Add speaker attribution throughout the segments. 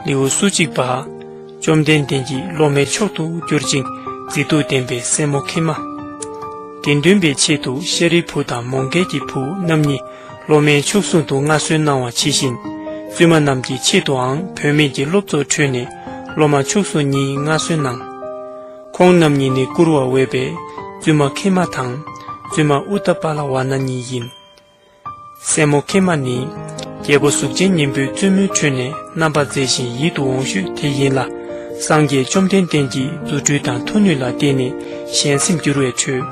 Speaker 1: ལེའུ་སོ་གཅིག་པ། བཅོམ་ལྡན་འདས་ཀྱིས་སློབ་མའི་མཆོག་ཏུ་གྱུར་ཅིང་མཛེས་སྡུག་ལྡན་པའི་སྲས་མོ་ཁི་མ། དགེ་འདུན་པའི་ཆེད་དུ་ཤཱ་རིའི་བུ་དང་མོང་གལ་གྱི་བུ་རྣམ་གཉིས་སློབ་མའི་མཆོག་བཟུང་དུ་མངའ་གསོལ་གནང་བ་ཇི་བཞིན། བཙུན་མ་རྣམས་ཀྱི་ཆེད་དུའང་བུད་མེད་ཀྱི་སློབ་ཚོགས་ཁྲོད་ནས་སློབ་མ་མཆོག་བཟུང་གཉིས་མངའ་གསོལ་གནང། ཁོང་རྣམ་གཉིས་ནི་བཀུར་བར་འོས་པའི་བཙུན་མ་ཁེ་མ་དང་བཙུན་མ་ཨུ་ཏ་པ་ལ་བ་ན་གཉིས་ཡིན། སྲས་མོ་ཁེ་མ་ནི་རྒྱལ་པོ་གཟུགས་ཅན་སྙིང་པོའི་བཙུན་མོའི་ཁྲོད་ནས་རྣམ་པར་མཛེས་ཤིང་ཡིད་དུ་འོང་ཤོས་དེ་ཡིན་ལ། སངས་རྒྱས་བཅོམ་ལྡན་འདས་ཀྱིས་རྫུ་འཕྲུལ་དང་མཐུ་ནུས་ལ་བརྟེན་ནས་གཞན་སེམས་བསྒྱུར་བའི་ཁྲོད།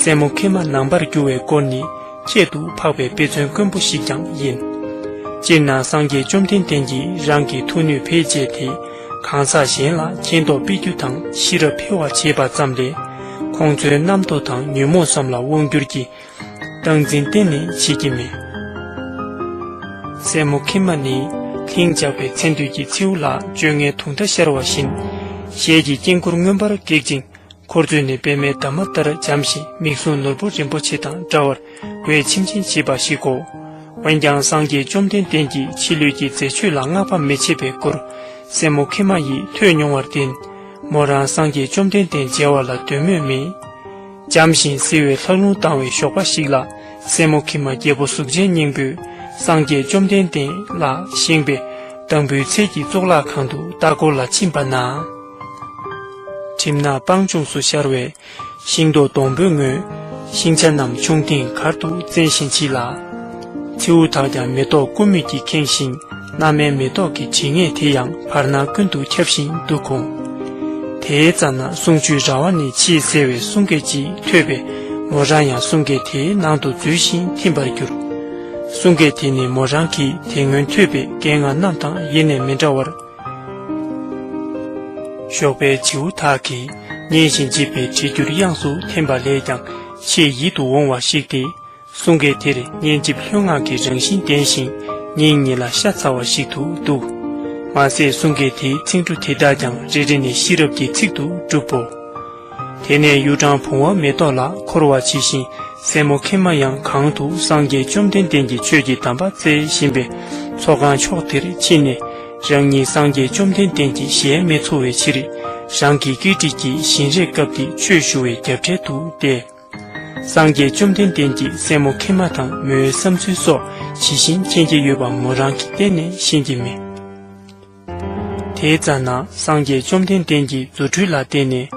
Speaker 1: སྲས་མོ་ཁེ་མ་ནང་པར་བསྒྱུར་བའི་སྐོར་ནི་ཁྱད་དུ་འཕགས་པའི་དཔེ་མཚོན་དཀོན་པོ་ཞིག་ཀྱང་ཡིན། སྤྱིར་ན་སངས་རྒྱས་བཅོམ་ལྡན་འདས་ཀྱིས་རང་གི་མཐུ་ནུས་བེད་སྤྱད་དེ། གང་ཟག་གཞན་ལ་མཁྱེན་རྟོགས་སྤེལ་རྒྱུ་དང་ཤེས་རབ་འཕེལ་བར་བྱེད་པ་ཙམ་ལས། ཁོང་ཚོའི་རྣམ་རྟོག་དང་ཉོན་མོངས་སམ་ལ་དབང་བསྒྱུར་གྱི་སྟངས་འཛིན་གཏན་ནས་བྱེད་ཀྱི་མེད། སྲས་མོ་ཁི་མ་ནི་ལྷིང་འཇགས་པའི་མཚན་དུས་ཀྱི་མཚེའུ་ལ་བཅོ་ལྔའི་དུང་བརྡ་ཤར་བ་བཞིན། ཞལ་གྱི་དཀྱིལ་འཁོར་མངོན་པར་སྒེག་ཅིང་འཁོར་ཚོས་ནི་པདྨའི་འདབ་མ་ལྟར་འཇམ་ཞིང་མིག་ཟུང་ནོར་བུ་རིན་པོ་ཆེ་དང་འདྲ་བར་བའི་ཁྱིམ་ཆེན་བྱེད་པ་ཞིག་གོ། འོན་ཀྱང་སངས་རྒྱས་བཅོམ་ལྡན་འདས་ཀྱིས་ཕྱི་ལུས་ཀྱི་མཛེས་ཆོས་ལ་བསྔགས་པ་མི་བྱེད་པའི་སྐོར་སྲས་མོ་ཁེ་མ་ཡིས་ཐོས་མྱོང་བར་བརྟེན། མོ་རང་སངས་རྒྱས་བཅོམ་ལྡན་འདས་མཇལ་བ་ལ་འདོད་མོས་མེད། འཇམ་ཞིང་བསིལ་བའི་ལྷགས་རླུང་ལྡང་བའི་ཞོགས་པ་ཞིག་ལ་སྲས་མོ་ཁེ་མ་རྒྱལ་པོ་གཟུགས་ཅན་སྙིང་པོས་སངས་རྒྱས་བཅོམ་ལྡན་འདས་ལ་བཞེངས་པའི་དང་པོའི་ཚལ་གྱི་གཙུག་ལག་ཁང་དུ་ལྟ་སྐོར་ལ་ཕྱིན་པ་ན། གྲིབ་ནག་སྤང་ལྗོངས་སུ་ཤར་བའི་ཤིང་ཏོག་སྡོང་པོས་མངོན། ཤིང་ཆ་རྣམས་ཆུང་ཐེངས་གར་དུ་བཙན་ཞིང་མཆིས་ལ། མཚེའུ་དག་ཀྱང་མེ་ཏོག་ཀུ་མུད་ཀྱིས་ཁེངས་ཤིང་སྣ་མའི་མེ་ཏོག་གི་བྲིས་ངད་དེ་ཡང་བར་སྣང་ཀུན་ཏུ་ཁྱབ་བཞིན་འདུག་གོ། དེའི་རྩ་ན་གསུང་ཆུའི་ར་བ་ནས་ཕྱིའི་སེར་བའི་གསུང་སྐད་ཅིག་ཐོས་པས་མོ་རང་ཡང་གསུང་སྐད་དེའི་ནང་དུ་འཛུལ་ཞིང་ཐིམ་པར་གྱུར། གསུང་སྐད་དེ་ནི་མོ་རང་གིས་དེ་སྔོན་ཐོས་པའི་སྐད་ངག་རྣམས་དང་ཡེ་ནས་མི་འདྲ་བར། ཞོགས་པའི་བྱིའུ་དག་གིས་སྙན་ཞིང་འཇིབས་པའི་གྲེ་འགྱུར་དབྱངས་སུ་འཐེན་པ་ལས་ཀྱང་ཆེས་ཡིད་དུ་འོང་བ་ཞིག་སྟེ། གསུང་སྐད་དེར་སྙན་འཇིབས་ལྷོད་ངང་གི་རང་བཞིན་ལྡན་ཞིང་སྙིང་ཉེ་ལ་ཤ་ཚ་བ་ཞིག་ཏུ་འདུག། མ་ཟད་གསུང་སྐད་དེའི་ཚིག་འབྲུ་དེ་དག་ཀྱང་རེ་རེ་ནས་ཤེས་རབ་ཀྱི་ཚིག་ཏུ་གྲུབ་བོ། དེ་ནས་གཡུ་སྦྲང་བུང་བ་མེ་ཏོག་ལ་འཁོར་བ་ཇི་བཞིན་སྲས་མོ་ཁེ་མ་ཡང་གང་དུ་སངས་རྒྱས་བཅོམ་ལྡན་འདས་ཀྱི་ཆོས་ཀྱི་གདམས་པ་སྩལ་བཞིན་པའི་ཚོགས་ཁང་ཕྱོགས་དེར་ཕྱིན་ནས། རང་ཉིད་སངས་རྒྱས་བཅོམ་ལྡན་འདས་ཀྱི་གཞལ་མེད་འཚོ་བའི་ཕྱིར། རང་གི་བཀའི་དྲིན་གྱིས་བཞིན་རས་བཀབ་སྟེ་ཆོས་ཞུ་བའི་རྒྱབ་གྲལ་དུ་བསྡད། སངས་རྒྱས་བཅོམ་ལྡན་འདས་ཀྱིས་སྲས་མོ་ཁེ་མ་དང་མོའི་བསམ་ཚུལ་སོགས་ཇི་བཞིན་མཁྱེན་གྱི་ཡོད་པ་མོ་རང་གིས་གཏན་ནས་ཤེས་ཀྱི་མེད། དེའི་རྩ་ན་སངས་རྒྱས་བཅོམ་ལྡན་འདས་ཀྱི་རྫུ་འཕྲུལ་ལ་བརྟེན་ནས་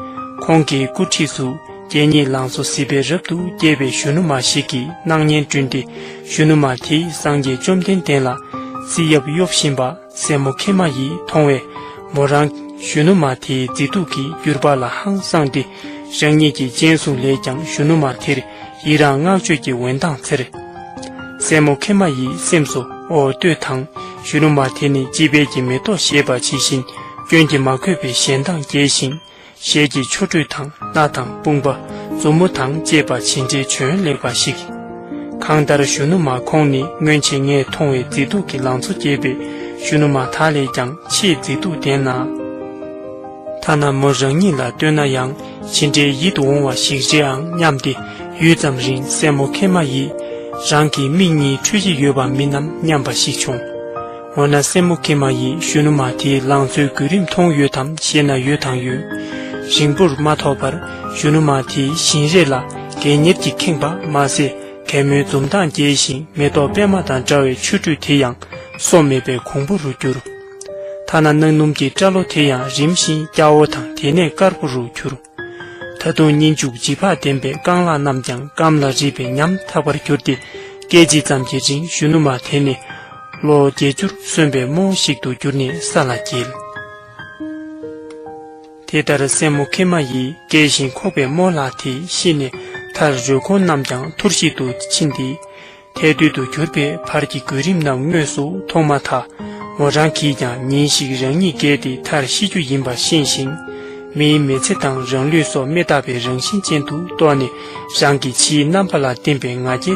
Speaker 1: ཁོང་གི་སྐུ་འཁྲིས་སུ་རྒྱལ་གཉིས་ལང་ཚོ་ཟིལ་པས་རབ་ཏུ་རྒྱས་པའི་གཞོན་ནུ་མ་ཞིག་གི་སྣང་བརྙན་བསྐྲུན་ཏེ་གཞོན་ནུ་མ་དེས་སངས་རྒྱས་བཅོམ་ལྡན་འདས་ལ་རྩིས་ཡབ་གཡོབ་བཞིན་པ་སྲས་མོ་ཁེ་མ་ཡིས་མཐོང་བས་མོ་རང། གཞོན་ནུ་མ་དེའི་མཛེས་སྡུག་གིས་བསྒྱུར་པ་ལ་ཧང་སངས་ཏེ་རང་ཉིད་ཀྱི་སྤྱན་ཟུང་ལས་ཀྱང་གཞོན་ནུ་མ་དེར་ཡིད་རང་བསྔགས་བརྗོད་ཀྱི་འོད་མདངས་འཚེར། སྲས་མོ་ཁེ་མ་ཡིས་སེམས་སུ་ཨོ་ལྟོས་དང་གཞོན་ནུ་མ་དེ་ནི་དཔྱིད་དཔལ་གྱི་མེ་ཏོག་ཞེས་པ་ཇི་བཞིན་སྐྱོན་གྱིས་མ་གོས་པའི་ཞལ་མདངས་རྒྱས་ཤིང། ཞལ་གྱི་ཆོ་འཕྲུལ་དང་སྣ་དང་དཔུང་པ་མཛུབ་མོ་དང་བཅས་པ་ཇི་འདྲའི་བྱོན་ལེགས་པ་ཞིག། གང་ལྟར་གཞོན་ནུ་མ་ཁོང་ནི་སྔོན་ཆད་ངས་མཐོང་བའི་མཛེས་སྡུག་གི་ལང་ཚོ་རྒྱས་པའི་གཞོན་ནུ་མ་དག་ལས་ཀྱང་ཆེས་མཛེས་སྡུག་ལྡན་ལ། ཐ་ན་མོ་རང་ཉིད་ལ་ལྟོས་ན་ཡང་ཇི་འདྲའི་ཡིད་དུ་འོང་བ་ཞིག་རེད་ཨང་སྙམ་སྟེ་ཡུད་ཙམ་རིང་སྲས་མོ་ཁེ་མ་ཡིས་རང་གི་མིག་གཉིས་འཕྲུལ་གྱི་ཡོད་པ་མིན་ནམ་སྙམ་པ་ཞིག་བྱུང། འོ་ན་སྲས་མོ་ཁེ་མ་ཡིས་གཞོན་ནུ་མ་དེའི་ལང་ཚོའི་བརྒྱུད་རིམ་མཐོང་ཡོད་དམ་ཞེ་ན་ཡོད་དང་ཡོད། རིང་པོར་མ་ཐོགས་པར་གཞོན་ནུ་མ་དེའི་བཞིན་རས་ལ་རྒས་གཉེར་གྱིས་ཁེངས་པ་མ་ཟད་གད་མོའི་འཛུམ་མདངས་རྒྱས་ཤིང་མེ་ཏོག་པད་མ་དང་འདྲ་བའི་མཆུ་སྒྲོས་དེ་ཡང་སོ་མེད་པའི་གོང་བུ་རུ་གྱུར། ཐ་ན་གནག་སྣུམ་གྱི་སྐྲ་ལོ་དེ་ཡང་རིམ་བཞིན་སྐྱ་བོ་དང་དེ་ནས་དཀར་པོ་རུ་གྱུར། ད་དུང་གཉིད་འཇུག་བརྗིད་ཕག་ལྡན་པའི་རྐང་ལག་རྣམས་ཀྱང་སྐམ་ལ་རིད་པའི་ཉམས་ཐག་པར་གྱུར་ཏེ་སྐད་ཅིག་ཙམ་གྱི་རིང་གཞོན་ནུ་མ་དེ་ནི། ལོ་བརྒྱད་ཅུར་སོན་པའི་རྨོ་བོ་ཞིག་ཏུ་གྱུར་ནས་ས་ལ་འགྱེལ། དེ་ལྟར་སྲས་མོ་ཁེ་མ་ཡིས་སྐྱེལ་བཞིན་ཁོག་པའི་རྨོ་ལགས་དེ་ཤི་ནས་མཐར་རུས་གོང་རྣམས་ཀྱང་ཐུར་ཞིག་ཏུ་ཕྱིན་ཏེ། ཐལ་རྡུལ་དུ་གྱུར་པའི་བར་གྱི་གོ་རིམ་རྣམས་དངོས་སུ་མཐོང་མ་ཐག་མོ་རང་གིས་ཀྱང་ཉིན་ཞིག་རང་ཉིད་བརྒལ་ཏེ་མཐར་ཤི་རྒྱུ་ཡིན་པ་ཤེས་ཤིང། མིའི་མི་ཚེ་དང་རང་ལུས་སོགས་མི་རྟག་པའི་རང་བཞིན་ཅན་དུ་རྟོགས་ནས་རང་གི་ཕྱིའི་རྣམ་པ་ལ་བརྟེན་པའི་ང་རྒྱལ།